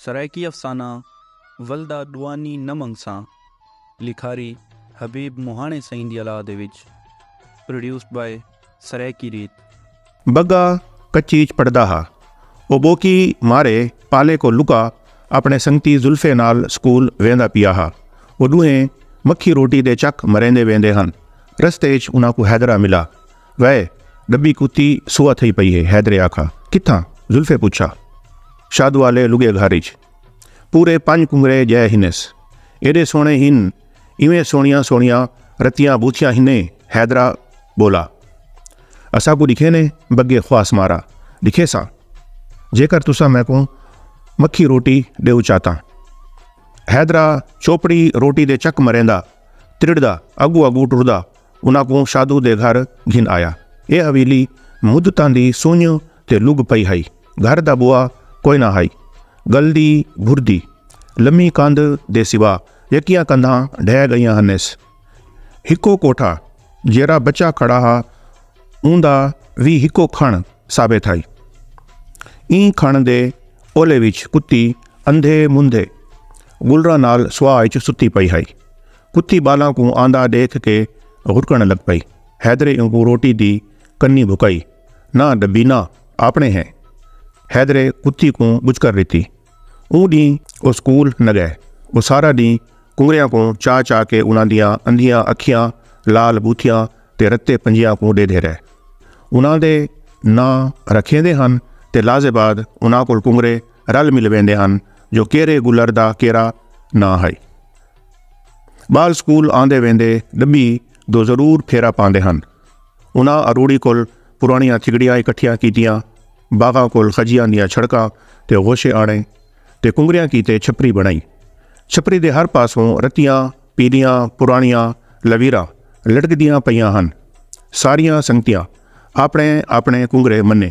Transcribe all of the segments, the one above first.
سرائیکی افسانہ ولدا ڈوانی نہ منگساں لکھاری حبیب مہاݨے سئیں دی الاء دے وچ Produced by سرائیکی ریت۔ بگا کچی اچ پڑھدا ہا۔ او ٻوکی مارے پالے کوں لکا اپݨے سنگتی زلفے نال سکول ویندا پیا ہا۔ او ݙوہیں مکھی روٹی دے چک مریندے ویندے ہن۔ رستے اچ انہاں کوں حیدرا ملا۔ وے ڈبی کتی سوا تھئی پئی ہے حیدرے آکھا کتھاں زلفے پچھا شادوالے لگے گھر اچ پورے پنج کنگرے جئے ہنس ایڈے سوہنے ہن ایویں سوہنیاں سوہنیاں رتیاں بوتھیاں ہنیں حیدرا بولا اساکوں ڈکھے نے بگے خواس مارا ڈکھیساں جیکر تساں میکوں مکھی روٹی ڈیو چاتاں حیدرا چوپڑی روٹی دے چک مریندا ترڑدا اگو اگو ٹردا انہاں کوں شادو دے گھر گھن آیا۔ ایہ حویلی مدتاں دی سنڄ تے لڳ پئی ہئی۔ گھر دا بوا کوئ نہ ہئی۔ ڳلدی بھردی لمی کندھ دے سوا ڄکیاں کندھاں ڈھہ ڳئیاں ہنس۔ ہکو کوٹھا جیرھا بچا کھڑا ہا اوندا وی ہکو کھݨ ثابت ہئی۔ ایں کھݨ دے اولے وچ کتی اندھے مندھے گلراں نال سوا اچ ستی پئی ہئی۔ کتی بالاں کوں آندا ڈیکھ کے غرکن لگ پئی حیدرے اونکوں روٹی دی کنی بھکائی نہ ڈبینا آپنے ہیں حیدرے کتی کوں بچکر ڈتی اوں ڈین او سکول نہ گئے او سارا ڈین کنگریاں کوں چا چا کے انہاں دیاں اندھیاں اکھیاں لال بوتھیاں تے رتے پنجیاں کوں ڈیدھے رہے انہاں دے نہ رکھیندے ہن تے لازے بعد انہاں کول کنگرے رل مل ویندے ہن جو کیرے گلر دا کیرا نہ ہائی ٻال سکول آندے ویندے ڈبی دو ضرور پھیرا پاندے ہن انہاں اروڑی کول پرانیاں تھگڑیاں اکٹھیاں کیتیاں باغاں کول خجیاں دیاں چھڑکاں تے غوشے آنے تے کنگریاں کیتے چھپری بنائی چھپری دے ہر پاسوں رتیاں پیلیاں پرانیاں لویراں لٹکدیاں پیاں ہن ساریاں سنگتیاں اپنے اپنے کنگرے منے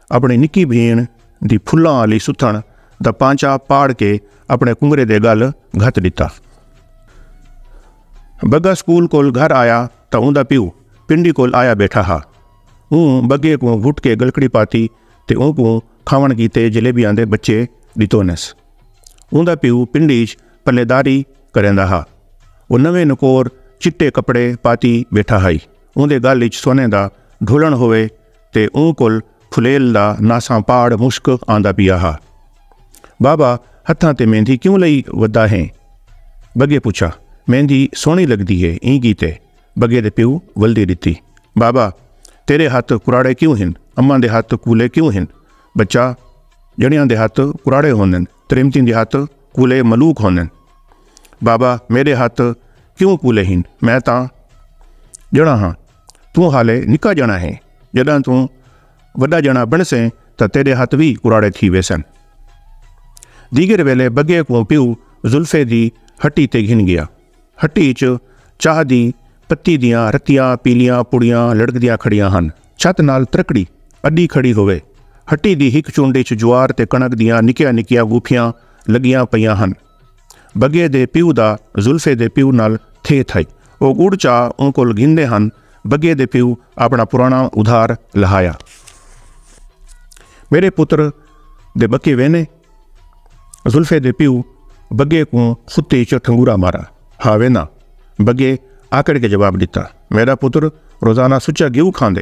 اپݨی نکی بھیݨ دی پھلاں آلی ستھݨ دا پانچا پاڑ کے اپݨے کنگرے دے ڳل گھت ݙتا۔ بگا سکول کول گھر آیا تاں اوندا پیو پنڈی کول آیا ٻیٹھا ہا۔ اوں بگے کوں گھٹ کے ڳلکڑی پاتی تے اونکوں کھاوݨ کیتے جلیبیاں دے بچے ݙتونس۔ اوندا پیو پنڈی اچ پلے داری کریندا ہا۔ او نویں نکور چٹے کپڑے پاتی ٻیٹھا ہئی۔ اوندے ڳل اچ سونے دا ڈھولݨ ہووے تے اوں کول پھلیل دا ناساں پاڑ مشک آندا پیا ہا۔ بابا ہتھاں تے مہندی کیوں لئی ودا ہیں؟ بگے پچھا۔ مہندی سوہنی لگدی ہے ایں گیتے۔ بگے دے پیو ولدی ڈتی۔ بابا تیرے ہتھ کراڑے کیوں ہن؟ اماں دے ہتھ کولے کیوں ہن؟ بچہ جنڑیاں دے ہتھ کراڑے ہوندن تریمتیں دے ہتھ کولے ملوک ہوندن۔ بابا میڈے ہتھ کیوں کولے ہن میں تاں جنڑاں ہاں۔ توں حالے نکا جݨا ہیں، جݙاں توں وݙا جݨا بݨسیں تاں تیݙے ہتھ وی کراڑے تھی ویسن۔ دیگر ویلے بگے کوں پیو زلفے دی ہٹی تے گھن ڳیا۔ ہٹی اچ چاہ دی پتی دیاں رتیاں پیلیاں پڑیاں لڑکدیاں کھڑیاں ہن۔ چھت نال ترکڑی اݙی کھڑی ہووے۔ ہٹی دی ہک چنڈ اچ جوار تے کݨک دیاں نکیاں نکیاں ڳوٹھیاں لڳیاں پئیاں ہن۔ بگے دے پیو دا زلفے دے پیو نال تھے تھائی او گڑ چا اوں کول گھندے ہن بگے دے پیو اپنا پرانا ادھار لہایا میرے پتر دے بکے وینے زلفے دے پیو بگے کو خطے چ ٹھنگورا مارا ہا وینا بگے آکڑ کے جواب دیتا میرا پتر روزانہ سچا گیو کھاندے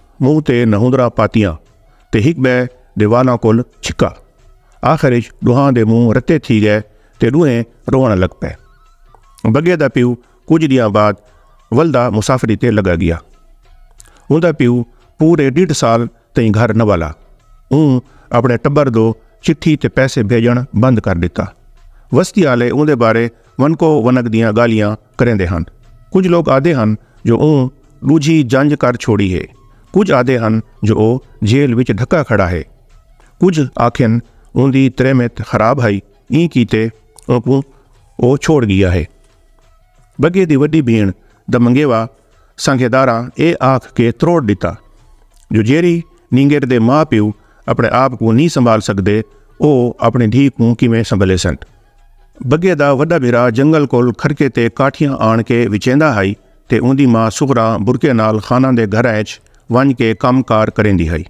منہ تے نہوندراں پاتیاں تے ہک بئے دے والاں کول چھکا۔ آخر اچ ڈوہاں دے منہ رتے تھی گئے تے ڈوہیں روونڑ لگ پئے۔ بگے دا پیو کجھ ڈینہاں بعد ولدا مسافری تے لگا گیا۔ اوندا پیو پورے ڈیڈھ سال تئیں گھر نہ والا۔ اوں اپنڑے ٹبر دو چٹھی تے پیسے بھیجنڑ بند کر ڈتا۔ وستی آلے اوندے بارے ونکو ونک دیاں گالھیاں کریندے ہن۔ کجھ لوک آہدے ہن جو اوں ڈوجھی جنج کر چھوڑی ہے، کجھ آہدے ہن جو او جیل وچ ڈھکا کھڑا ہے، کجھ آکھن اوندی تریمت خراب ہئی ایں کیتے اونکوں او چھوڑ گیا ہے۔ بگے دی وڈی بھیݨ دا منگیوا سانگھے داراں اے آکھ کے تروڑ ڈتا جو جیرھی نینگر دے ماء پیو اپݨے آپ کوں نی سنبھال سگدے او اپݨی دھی کوں کیویں سنبھلیسن۔ بگے دا وڈا بھرا جنگل کول کھرکے تے کاٹھیاں آن کے وچیندا ہائی تے اوندی ماں صغرا برکے نال خاناں دے گھراں اچ ونج کے کم کار کریندی ہائی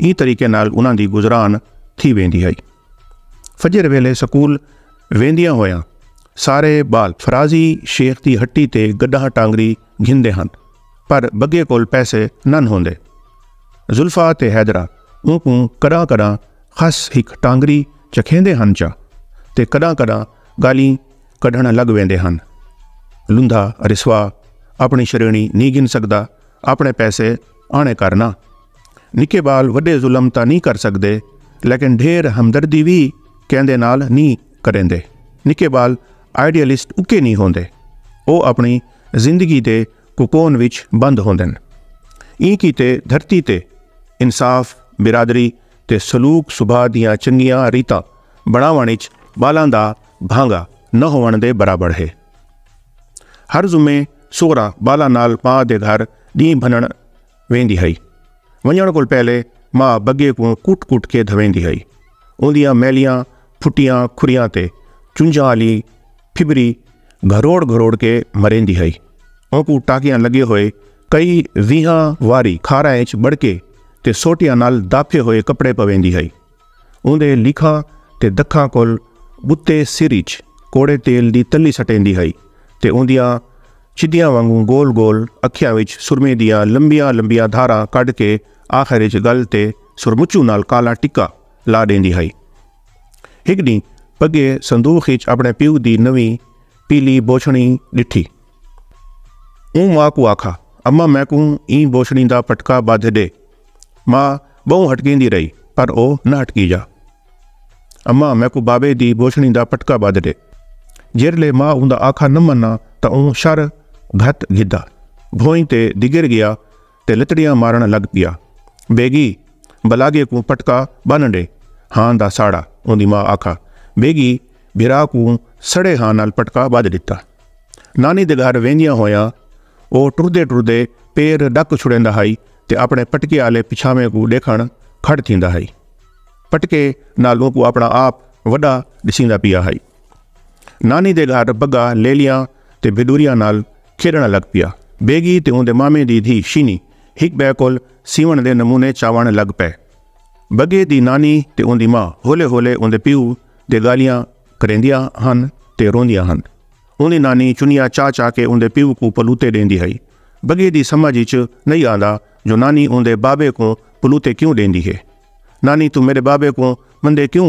ایں طریقے نال انہاں دی گزران تھی ویندی ہائی فجر ویلے سکول ویندیاں ہویاں سارے بال فرازی شیخ دی ہٹی تے گڈاں ٹانگری گھندے ہن پر بگے کول پیسے نن ہوندے زلفا تے حیدرا اونکوں کڈاں کڈاں خس ہک ٹانگری چکھیندے ہن چا تے کݙاں کݙاں ڳالھیں کڈھݨ لڳ ویندے ہن۔ لندھا رسوا آپݨی شریݨی نی گھن سڳدا آپݨے پیسے آݨے کر ناں۔ نکے ٻال وݙے ظلم تاں نی کر سڳدے لیکن ڈھیر ہمدردی وی کیندے نال نی کریندے۔ نکے ٻال آئیڈیلسٹ اکے نی ہوندے۔ او آپݨی زندگی دے کوکون وچ بند ہوندن۔ ایں کیتے دھرتی تے انصاف، برادری، تے سلوک سبھا دیاں چنگیاں ریتاں بنڑاونڑ اچ بالاں دا بھانگا نہ ہوونڑ دے برابر ہے۔ ہر جمعے سغرا بالاں نال ماء دے گھر ڈینہہ بھننڑ ویندی ہئی۔ ونجنڑ کول پہلے ماء بگے کوں کٹ کٹ کے دھویندی ہئی۔ اوندیاں میلیاں پھٹیاں کھریاں تے چنجاں آلی پھبری گھروڑ گھروڑ کے مریندی ہئی۔ اونکوں ٹاکیاں لگے ہوئے کئی ویہاں واری کھاراں اچ بڑکے تے سوٹیاں نال داپھے ہوئے کپڑے پویندی ہئی۔ اوندے لیکھاں تے دکھاں کول بتے سر اچ کوڑے تیل دی تلی سٹیندی ہئی تے اوندیاں چدیاں وانگوں گول گول اکھیاں وچ سرمے دیاں لمبیاں لمبیاں دھاراں کڈھ کے آخر اچ گل تے سرمچو نال کالا ٹکا لا ڈیندی ہئی۔ ہک ڈینہہ پگے صندوق اچ اپݨے پیو دی نویں پیلی بوچھڑی ڈٹھی۔ اوں ماء کوں آکھا اماں میکوں ایں بوچھڑی دا پٹکا بدھ ڈے۔ ماء بہوں ہٹکیندی رہی پر او نہ ہٹکی جا۔ اماں میکوں بابے دی بوچھڑی دا پٹکا بدھ ڈے۔ جیرھلے ماء اوندا آکھا نہ منا تاں اوں شر گھت گھدا۔ بھوئیں تے دگر گیا۔ تے لتڑیاں مارݨ لڳ پیا۔ بیگی! بلاگے کوں پٹکا ٻن ݙے، ہاں دا ساڑا، اوندی ماء آکھا۔ بیگی بھرا کوں سڑے ہاں نال پٹکا ٻدھ ݙتا۔ نانی دے گھر ویندیاں ہویاں او ٹردے ٹردے پیر ݙک چھڑیندا ہئی تے اپݨے پٹکے آلے پچھاویں کوں ݙیکھݨ کھڑ تھیندا ہئی۔ پٹکے نال اونکوں اپݨا آپ وݙا ݙسیندا پیا ہئی۔ نانی دے گھر بگا لیلیاں تے بھیݙوریاں نال کھیݙݨ لڳ پیا۔ بیگی تے اوندے مامے دی دھی شینی ہک ٻئے کول سیوݨ دے نمونے چاوݨ لڳ پئے۔ بگے دی نانی تے اوندی ماء ہولے ہولے اوندے پیو دے ڳالھیاں کریندیاں ہن تے روندیاں ہن۔ اوندی نانی چنیا چا چا کے اوندے پیو کوں پلوتے ݙیندی ہئی۔ بگے دی سمجھ اچ نئیں آندا جو نانی اوندے بابے کوں پلوتے کیوں ݙیندی ہے۔ نانی توں میݙے بابے کوں مندے کیوں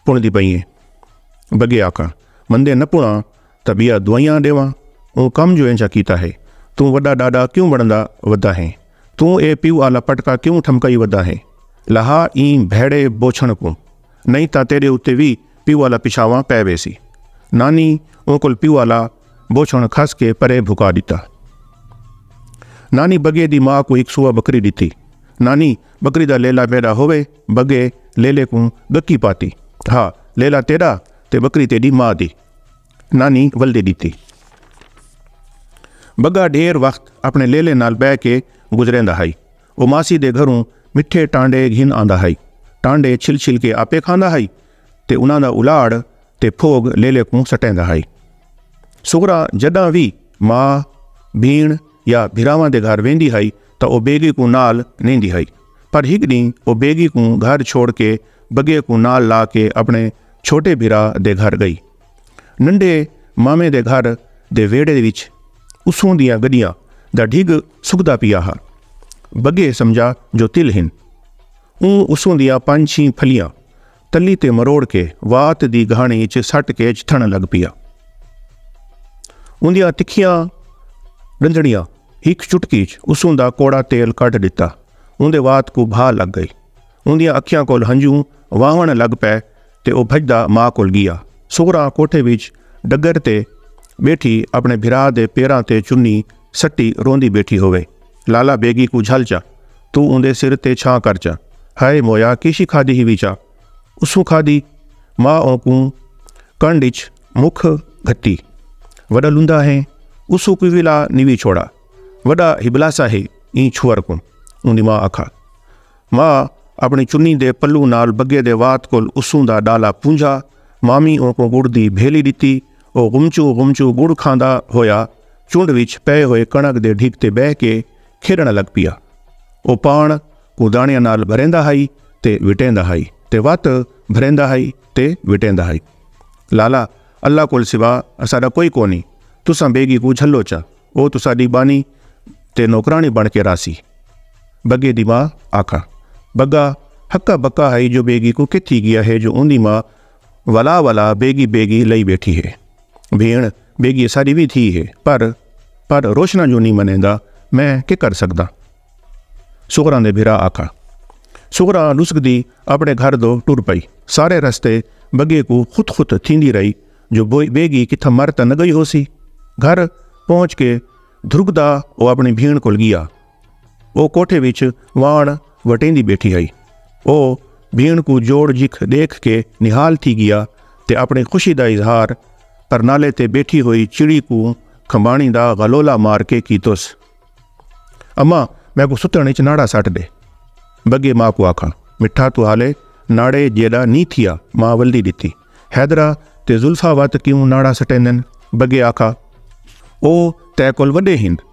پݨدی پئیں ایں۔ بگے آکھا، مندے نہ پݨاں طبیعہ دوئیاں ڈیواں اوں کم جو اینجھا کیتا ہے توں وڈا ڈاڈا کیوں بنڑدا ودا ہیں توں اے پیو آلا پٹکا کیوں ٹھمکائی ودا ہیں لہا ایں بھیڑے بوچھنڑ کوں نئیں تاں تیڈے اتے وی پیو آلا پچھاواں پے ویسی نانی اوں کول پیو آلا بوچھنڑ کھس کے پرے بھکا ڈتا نانی بگے دی ماں کوں ہک سوا بکری ڈتی نانی بکری دا لیلا میڈا ہووے بگے لیلے کوں گکی پاتی ہا لیلا تیڈا تے بکری تیڈی ماں دی نانی ولدے دیتی بگا ڈھیر وقت اپنے لیلے نال بہ کے گزریندا ہائی او ماسی دے گھروں مٹھے ٹانڈے گھن آندا ہائی ٹانڈے چھل چھل کے آپے کھاندا ہائی تے انہاں دا الاڑ تے پھوگ لیلے کوں سٹیندا ہائی سغرا جڈاں وی ماں بھیڑ یا بھراواں دے گھر ویندی ہائی تاں او بیگی کوں نال نیندی ہائی پر ہک ڈینہہ او بیگی کوں گھر چھوڑ کے بگے کوں نال لا کے اپنے چھوٹے بھرا دے گھر گئی۔ ننڈے مامے دے گھر دے ویڑھے وچ اسوں دیاں گڈیاں دا ڈھگ سکدا پیا ہا۔ بگے سمجھا جو تل ہن۔ اوں اسوں دیاں پنج چھیں پھلیاں تلی تے مروڑ کے وات دی گھاݨی اچ سٹ کے چتھݨ لگ پیا۔ اوندیاں تکھیاں ݙندڑیاں ہک چٹکی اچ اسوں دا کوڑا تیل کڈھ ݙتا۔ اوندے وات کوں بھا لگ گئی۔ اوندیاں اکھیاں کول ہنجوں واہوݨ لگ پئے تے او بھڄدا ماء کول گیا۔ صغری کوٹھے وچ ڈگر تے ٻیٹھی اپݨے بھرا دے پیراں تے چنی سٹی روندی ٻیٹھی ہووے۔ لالا بیگی کوں جھل چا۔ توں اوندے سر تے چھاں کر چا۔ ہائے مویا کیشی کھادی ہیوی چا۔ اسوں کھادی۔ ماء اونکوں کنڈ اچ مکھ گھتی۔ وڈا لوندا ہے۔ اسوں کوئی وی لا نیوی چھوڑا۔ وڈا ہبلاسا ہے ایں چھوہر کوں۔ اوندی ماء آکھا۔ ماء اپنی چنی دے پلو نال بگے دے وات کول اسوں دا ڈالا پونجھا۔ مامی اونکوں گڑ دی بھیلی ڈتی۔ او غمچو غمچو گڑ کھاندا ہویا چنڈ وچ پئے ہوئے کنڑک دے ڈھگ تے بہہ کے کھیݙݨ لڳ پیا۔ او پاݨ کوں داݨیاں نال بھریندا ہئی تے وٹیندا ہئی تے وت بھریندا ہئی تے وٹیندا ہئی۔ لالا، اللہ کول سوا اساݙا کوئی کونی، تساں بیگی کوں جھلو چا، او تساݙی ٻانی تے نوکراݨی بݨ کے راہسی۔ بگے دی ماء آکھا۔ بگا ہکا بکا ہئی جو بیگی کوں کتھی ڳیا ہے جو اوندی ماء ولا ولا بیگی بیگی لئی بیٹھی ہے بھیݨ بیگی اساݙی وی دھی ہے پر پر روشنا جو نی منیندا میں کے کر سڳداں سغراں دے بھرا آکھا سغراں ݙسکدی اپݨے گھر دو ٹر پئی سارے رستے بگے کو خط خط تھیندی رہی جو بیگی کتھاں مر تاں نہ گئی ہوسی گھر پہنچ کے دھرکدا او اپݨی بھیݨ کول گیا او کوٹھے وچ واݨ وٹیندی بیٹھی ہئی او بھیݨ کو جوڑ جکھ ݙیکھ کے نہال تھی گیا تے اپݨی خوشی دا اظہار پرنالے تے بیٹھی ہوئی چڑی کو کھمباݨی دا غلولہ مار کے کیتوس اماں میکوں ستݨ اچ ناڑا سٹ ݙے بگے ماں کو آکھاں مٹھا تو حالے ناڑے جیݙا نی تھیا ماں ولدی ݙتی حیدرا تے زلفا وت کیوں ناڑا سٹیندن بگے آکھا او تیکل وݙے ہند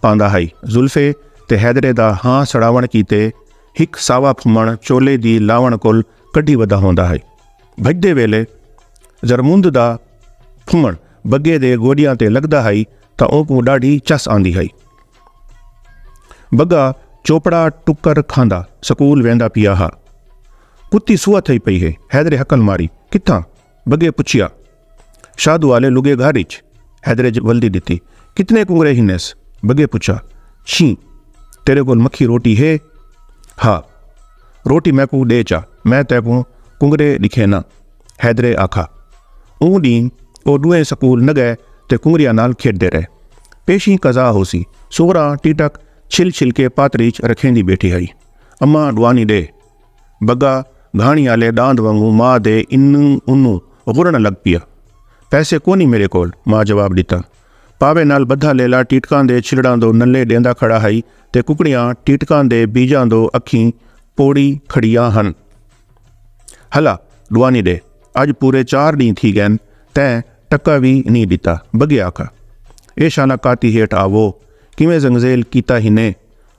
پاندا ہئی۔ زلفے تے حیدرے دا ہاں سڑاوݨ کیتے ہک ساوا پھمݨ چولے دی لاوݨ کول کڈھی ودا ہوندا ہئی۔ بھڄدے ویلے زرموند دا پھمݨ بگے دے گوڈیاں تے لڳدا ہئی تاں اونکوں ݙاڈھی چس آندی ہئی۔ بگا چوپڑا ٹکر کھاندا سکول ویندا پیا ہا۔ کتی سوہا تھئی پئی ہے۔ حیدرے ہکل ماری۔ کتھاں؟ بگے پچھیا۔ شاہ دوالے لگے گھر اچ حیدرے جب ولدی ڈتی کتنے کنگرے ہنیس بگے پچھا چھیں تیرے کول مکھی روٹی ہے ہا روٹی میکوں ڈے چا میں تیکوں کنگرے ڈکھے نا حیدرے آکھا اوں ڈین او ڈوئیں سکول نہ گئے تے کنگریاں نال کھیڈ دے رہے پیشیں قضا ہوسی سغراں ٹیٹک چھل چھل کے پاتریچ رکھیندی بیٹھی ہائی اماں ڈوانی ڈے بگا گھاݨی آلے ݙاند وانگوں ماء دے انوں اونوں غرݨ لڳ پیا۔ پیسے کونی میݙے کول، ماء جواب ݙتا۔ پاوے نال ٻدھا لیلا ٹیٹکاں دے چھلڑاں دو نلے ݙیندا کھڑا ہئی تے ککڑیاں ٹیٹکاں دے بیجاں دو اکھیں پوڑی کھڑیاں ہن۔ ہلا ݙوانی ݙے، اڄ پورے چار ݙینھ تھی ڳئن تیں ٹکا وی نی ݙتا۔ بگے آکھا، اے شالا کاتی ہیٹھ آوو، کیویں زنگزیل کیتا ہنیں؟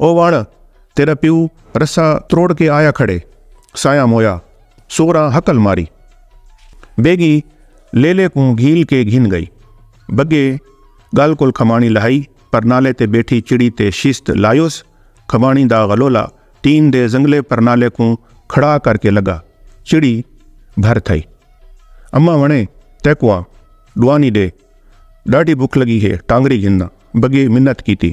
او واڑ تیڈا پیو رسہ تروڑ کے آیا کھڑے سایاں مویا سوراں ہکل ماری بیگی لیلے کوں گھیل کے گھن گئی بگے گل کول کھمانی لہائی پرنالے تے بیٹھی چڑی تے شیست لایوس کھمانی دا غلولا ٹین دے زنگلے پرنالے کوں کھڑا کر کے لگا چڑی بھر تھئی اماں ونے تیکواں ڈوانی ڈے ڈاڈھی بھک لگی ہے ٹانگری گھننا بگے منت کیتی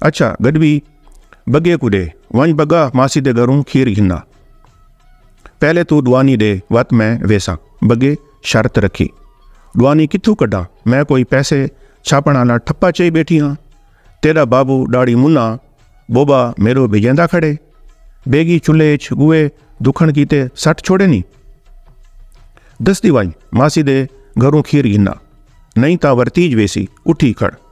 اچھا گڈوی بگے کو دے ونج بگا ماسی دے گھروں کھیر گھنا پہلے تو ڈوانی دے وت میں ویسا بگے شرط رکھی ڈوانی کتھو کڈا میں کوئی پیسے چھاپن والا ٹھپا چئی بیٹھی ہاں تیرا بابو ڈاڑی منا بوبا میرو بھجیندا کھڑے بیگی چلے اچ گوئے دکھن کیتے سٹ چھوڑے نہیں دستی ونج ماسی دے گھروں کھیر گھنا نہیں تا ورتیج ویسی اٹھی کھڑ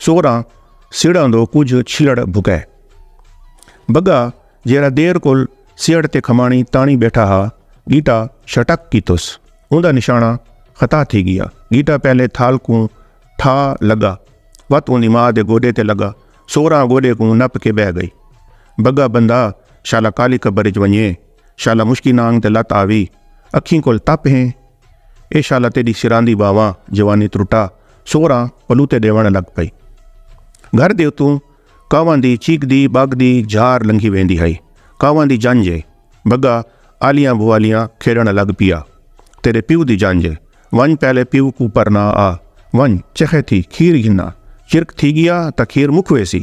سوراں سیڑاں دو کجھ چھیڑ بھکے بگا جیرا دیر کل سیڑ تے کھمانی تانی بیٹھا ہا گیٹا شٹک کی تس اوندا نشانہ خطا تھی گیا گیٹا پہلے تھال کوں ٹھا لگا وت اوندی ماں دے گوڈے تے لگا سوراں گوڈے کوں نپ کے بہ گئی بگا بندہ شالا کالی قبر وچ ونجے شالا مشکی نانگ تے لت آوی اکھیں کول تپ ہیں اے شالا تیݙی سراں دی ٻاہواں جوانی ترٹا سوراں پلوتے ݙیوݨ لڳ پئی۔ گھر دے اتوں کاواں دی چیکدی ٻاکدی جھار لنگھی ویندی ہئی۔ کاواں دی جنجھ اے۔ بگا آلیاں بھوالیاں کھیݙݨ لڳ پیا۔ تیݙے پیو دی جنجھ اے۔ ونڄ پہلے پیو کوں پرنا آ۔ ونڄ، چخے تھی، کھیر گھناں۔ چرک تھی ڳیا تاں کھیر مک ویسی۔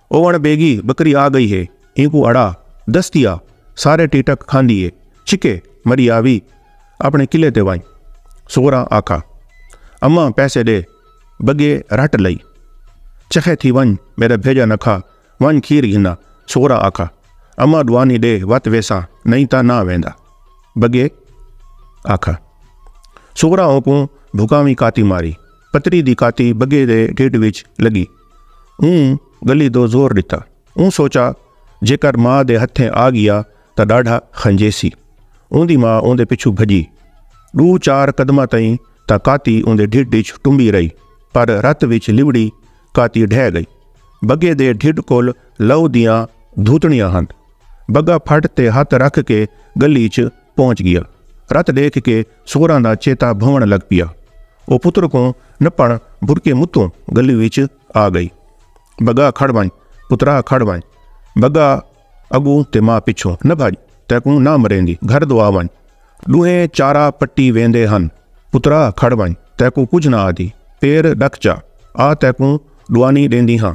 او وݨ بیگی بکری آ گئی ہے اینکوں اڑا دس دیا سارے ٹیٹک کھاندی ہے چھکے مری آوی اپنے قلعے تے ونج سغراں آکھا اماں پیسے ڈے بگے رٹ لئی چخے تھی ونج میرا بھیجا نہ کھا ونج کھیر گھنا سغراں آکھا اماں ڈوانی ڈے وت ویساں نہیں تا نہ ویندا بگے آکھا سغراں اوکوں بھکاویں کاتی ماری پتری دی کاتی بگے دے ڈھڈ وچ لگی اوں گلی دو زور ڈتا اوں سوچا جیکر ماں دے ہتھیں آ گیا تا ڈاڈھا خنجیسی اوندی ماں اوندے پچھو بھجی ڈو چار قدمہ تئیں تا کاتی اوندے ڈھڈ اچ ٹمبی رہی پر رت وچ لبڑی کاتی ڈھہ گئی بگے دے ڈھڈ کول لو دیاں دھوتنیاں ہن بگا پھٹ تے ہتھ رکھ کے گلی اچ پہنچ گیا رت ڈیکھ کے سوراں دا چیتا بھونڑ لگ پیا۔ او پتر کوں نپنڑ بھرکے متوں گلی وچ آ گئی۔ بگا کھڑ ونج پترا کھڑ ونج۔ بگا اگوں تے ماں پچھوں۔ نہ بھج تیکوں نہ مریندی گھر دو آ ونج۔ ڈوہیں چارا پٹی ویندے ہن۔ پترا کھڑ ونج تیکوں کجھ نہ آدھی پیر ڈک چا آ تیکوں ڈوانی ڈیندی ہاں۔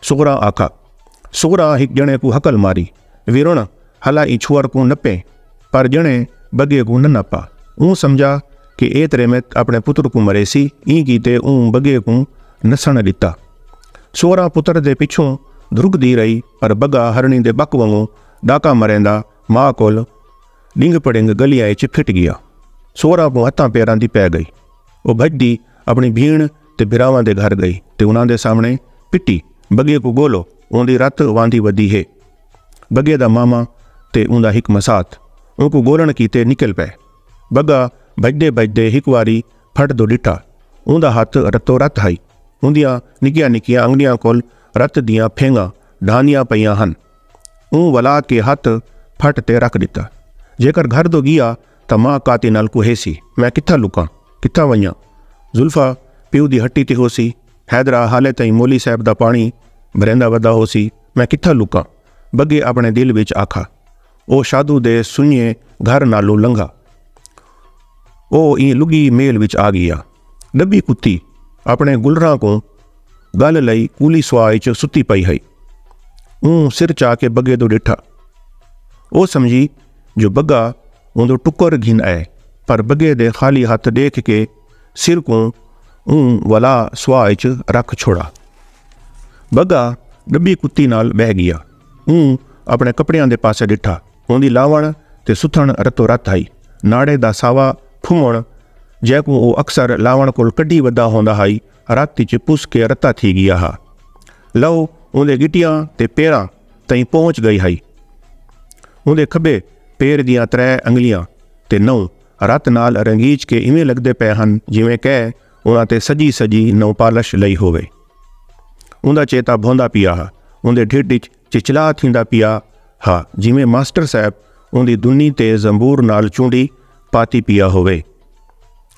سغرا آکھا۔ سغرا ہک جنڑے کوں ہکل ماری۔ ویرݨ ہلا ایں چھوہر کوں نپے پر جݨے بگے کوں نہ نپا اوں سمجھا کہ اے تریمت اپݨے پتر کوں مریسی ایں کیتے اوں بگے کوں نسݨ ݙتا سوہراں پتر دے پچھوں دھرکدی رہی پر بگا ہرݨی دے ٻک ونگوں ݙاکا مریندا ماء کول ݙنگ پڑنگ ڳلیاں اچ پھٹ ڳیا سوہراں کوں ہتھاں پیراں دی پئے ڳئی او بھڄدی اپݨی بھیݨ تے بھراواں دے گھر گئی تے انہاں دے سامنے پٹی بگے کوں گولو اوندی رت واندھی ودی ہے بگے دا ماما تے اوندا ہک مسات اونکوں گولن کیتے نکل پئے بگا بھجدے بھجدے ہک واری پھٹ دو ڈٹھا اوندا ہتھ رتو رت ہئی اوندیاں نکیاں نکیاں انگلیاں کول رت دیاں پھینگاں ڈھاندیاں پئیاں ہن اوں ولا کے ہتھ پھٹ تے رکھ ڈتا جیکر گھر دو گیا تاں ماء کاتے نال کوہے سی۔ میں کتھاں لکاں؟ کتھاں ونجاں؟ زلفا پیو دی ہٹی تے ہوسی۔ حیدرا حالے تئیں مولی صاحب دا پاݨی بھریندا ودا ہوسی۔ میں کتھاں لکاں؟ بگے آپݨے دل وچ آکھا۔ او شادو دے سنڄے گھر نالوں لنگھا۔ او ایں لڳی میل وچ آ ڳیا۔ ݙبھی کتی آپݨے گلراں کوں ڳل لئی کولی سوا اچ ستی پئی ہئی۔ اوں سر چا کے بگے دو ݙٹھا۔ او سمجھی۔ جو بگا اوندو ٹکر گھن آئے پر بگے دے خالی ہتھ ڈیکھ کے سر کوں اوں ولا سوا اچ رکھ چھوڑا بگا ڈبی کتی نال بہ گیا اوں اپنے کپڑیاں دے پاسے ڈٹھا اوندی لاون تے ستھن رتو رت ہائی ناڑے دا ساوا پھمن جیکوں او اکثر لاون کول کڈھی ودا ہوندا ہائی رت اچ پس کے رتا تھی گیا ہا لو اوندے گٹیاں تے پیراں تئیں پہنچ گئی ہئی۔ اوندے کھبے پیر دیاں ترے انگلیاں تے نہوں رت نال رنگیچ کے ایویں لگدے پئے ہن جیویں کئے انہاں تے سجی سجی نہوںپالش لئی ہووے۔ اوندا چیتا بھوندا پیا ہا۔ اوندے ڈھڈ اچ چچلا تھیندا پیا ہا جیویں ماسٹر صاحب اوندی دنی تے زنبور نال چونڈی پاتی پیا ہووے۔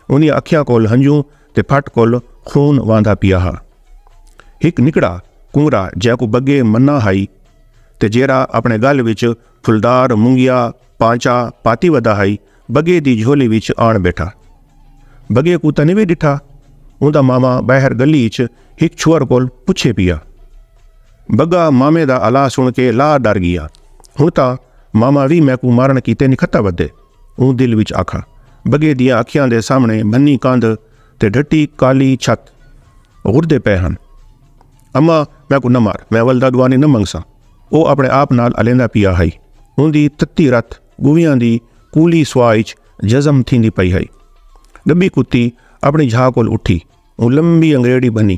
اوندیاں اکھیاں کول ہنجوں تے پھٹ کول خون واندا پیا ہا۔ ہک نکڑا کنگرا جیکوں بگے منا ہائی تے جیرا اپنے گل وچ پھلدار مونگیا پانچا پاتی ودا ہائی بگے دی جھولی وچ آن بیٹھا۔ بگے کوں تاں نویں ڈٹھا۔ اوندا ماما باہر گلی اچ ہک چھوہر کول پچھے پیا۔ بگا مامے دا الا سن کے لا ڈر گیا۔ ہن تاں ماما وی میکوں مارن کیتے نکھتا ودے۔ اوں دل وچ آکھاں بگے دیاں اکھیاں دے سامنے بھنی کاندھ تے ڈھٹی کالی چھت غردے پئے ہن۔ اماں میکوں نہ مار میں ولدا ڈوانی نہ منگساں او اپنے آپ نال الیندا پیا ہئی اوندی تتی رت گویاں دی کولی سوا اچ جزم تھیندی پئی ہئی۔ ڈبی کتی اپنی جھا کول اٹھی اوں لمبی انگریڑی بھنی۔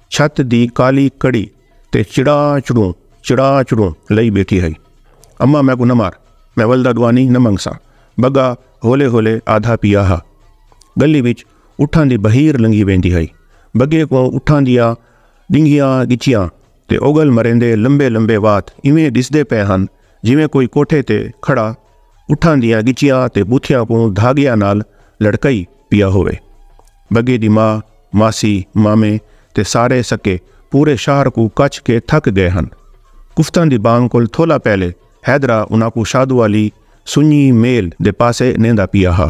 چھت دی کالی کڑی تے چڑا چڑوں چڑا چڑوں لئی بیٹھی ہئی اما میں کو نہ مار میں ولدا دوانی نہ منگ ساں بگا ہولے ہولے آدھا پیا ہا گلی وچ اٹھاں دی بہیر لنگھی ویندی ہئی بگے کو اٹھاں دیاں ڈنگیاں گچیاں تے اوگل مریندے لمبے لمبے وات ایویں ڈسدے پے ہن جویں کوئی کوٹھے تے کھڑا اٹھاں دیاں گچیاں تے بوتھیاں کو دھاگیاں نال لڑکئی پیا ہووے بگے دی ماء، ماسی، مامے تے سارے سکے پورے شہر کوں کچھ کے تھک گئے ہن۔ کفتاں دی بانگ کول تھولا پہلے حیدرا انہاں کوں شادو آلی سنڄی میل دے پاسے نیندا پیا ہا۔